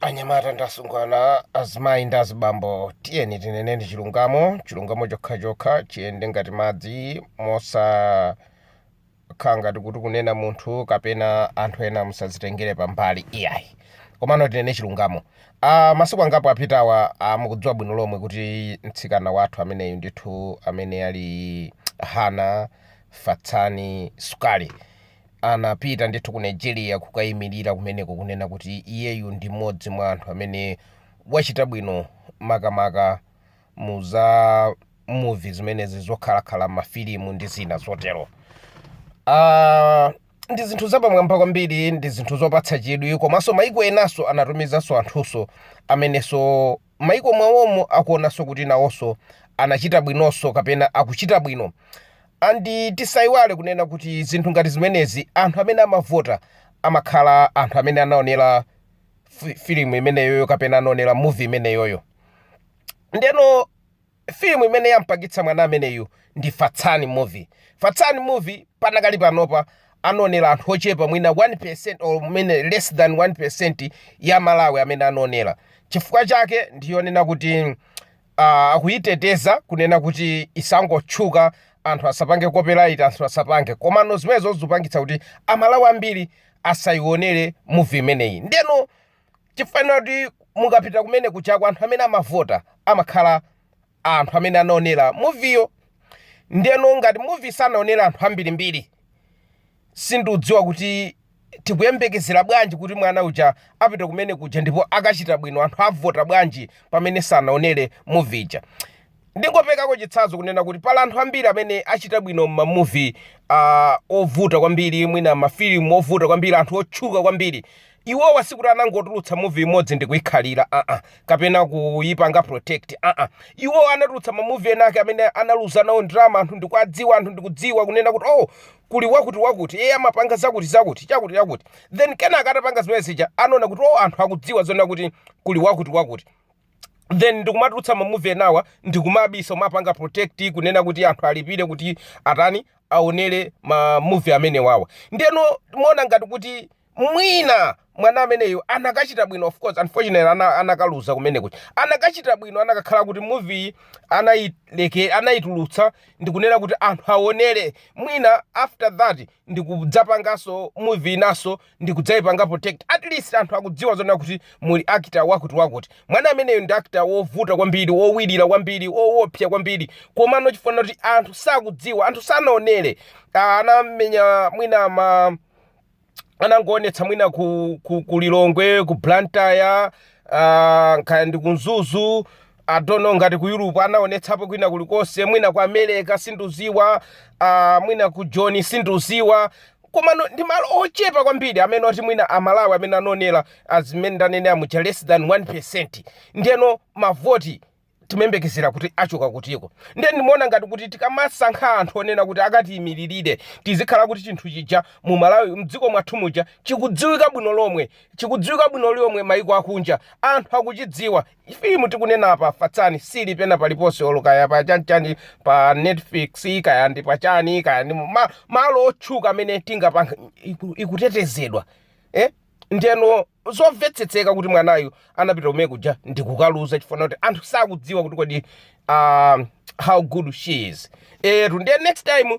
anyamata ndi asungwana azimayi ndi azibambo tiyeni tinene ndi chilungamo chilungamo chokhachokha chiyende ngati madzi mosakhala ngati kuti kunena munthu kapena anthu ena musazitengere pambali iyayi komano tinene chilungamo uh, masiku angapo apitawa uh, mukudziwa bwino lomwe kuti mtsikana wathu ameneyu ndithu amene ali hana fatsani sukali anapita ndithu ku Nigeria kukayimilira kumeneko kunena kuti iyeyu ndi mmodzi mwa anthu amene wachita bwino makamaka mu za muvi zimenezi zoakitaakita mafilimu ndi zina zotero uh, ndi zinthu zapamwamba kwambiri ndi zinthu zopatsa chidwi komanso maiko enanso anatumizanso anthunso amenenso maiko mwawomo akuonanso kuti nawonso anachita bwinonso kapena akuchita bwino. And tisaiwale kunena kuti zinthu ngati zimenezi anthu amene amavota amakhala anthu amene anaonera fi- filimu imeneyoyo kapena anaonera movie imeneyoyo ndiyeno Film imene yampangitsa mwana ameneyu ndi Fatsani movie. Fatsani movie panakali panopa anaonera anthu ochepa mwina 1% or mwina less than 1% ya Malawi amene anaonera. Chifukwa chake ndi yonena kuti aah akuyiteteza kunena kuti isangotchuka anthu asapange copyright anthu asapange. Komano zimenezo zikupangitsa kuti a Malawi ambiri asayionere movie imeneyi. Ndiyeno. Chifaniziro kuti mukapita kumene kujaku anthu amene amavota amakhala anthu amene anaonera muviyo ndiyeno ngati muvi sanaonere anthu ambirimbiri sindikudziwa kuti tikuyembekezera bwanji kuti mwana uja apita kumene kuja ndipo akachita bwino anthu avota bwanji pamene sanaonere muvi ija. Ndingoperekako chitsanzo kunena kuti pali anthu ambiri amene achita bwino m'ma movie a ovuta kwambiri, mwina ma film ovuta kwambiri, anthu otchuka kwambiri. Iwowa sikuti anangotulutsa movie imodzi ndikuikhalira aa kapena kuipanga protect aa. Iwowa anatulutsa ma movie enaake amene analuza nawo ndalama anthu ndikuadziwa, anthu ndikudziwa kunena kuti oh kuli wakuti wakuti iye amapanga zakuti zakuti, chakuti chakuti. Then kenaka atapanga zimene zija anaona kuti oh anthu akudziwa zonena kuti kuli wakuti wakuti. then ndikumatulutsa mamuvi enawa ndikumabisa kumapanga protect kunena kuti anthu alipire kuti atani aonere mamuvi amenewawa ndiyeno ndimaona ngati kuti mwina mwana ameneyo anakachita bwino of course unfortunately ana, anakaluza kumeneku anakachita bwino anakakhala kuti muvi anayileke anayitulutsa ndikunena kuti anthu aonere mwina after that ndikudzapanganso muvi inaso ndikudzaipanga protect at least anthu akudziwa zona kuti muli actor wakuti wakuti mwana ameneyo ndi actor wovuta kwambiri wowirira kwambiri woopsa kwambiri komano chifukwa kuti anthu sakudziwa anthu sanaonere ah, anamenya mwina ma anangoonetsa mwina ku, ku, ku lilongwe ku blantyre uh, nkaya ndi kunzuzu I don't know ngati ku Europe anaonetsapo kwina kulikonse mwina ku America sinduziwa uh, mwina ku Joni sinduziwa koma no- ndi malo ochepa kwambiri amene oti mwina amalawi amene anonera azimene ndanenera muja less than 1 percent ndiyeno mavoti timayembekezera kuti achoka kuti ko ndiye ndimaona ngati kuti tikamasankha anthu onena kuti akatiyimiririre tizikhala kuti chinthu chija mu malawi mdziko mwathu muja chikudziwika bwino lomwe chikudziwika bwino lomwe maiko akunja anthu akuchidziwa Filimu tikunenapa Fatsani sili pena paliponse olo kaya pa chanichani pa Netflix kaya ndi pa chani kaya ndi mu- ma, malo otchuka amene tingapange iku, ikutetezedwa eh? ndeno zomvetsetseka kuti mwanayu anapita kumene kuja ndikukaluza chifukwa kuti anthu sakudziwa kuti kodi uh, how good she is etu ndiye next time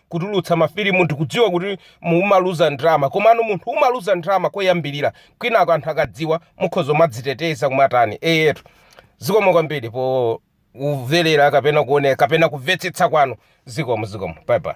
kutulutsa mafilimu ndikudziwa kuti umaluza ndalama komano munthu umaluza ndalama koyambirira kwinako anthu akadziwa mukhoza kumadziteteza kumatani eyetu zikomo kwambiri po kuvelera kapena kuonera kapena kuvetsetsa kwanu zikomo zikomo bye bye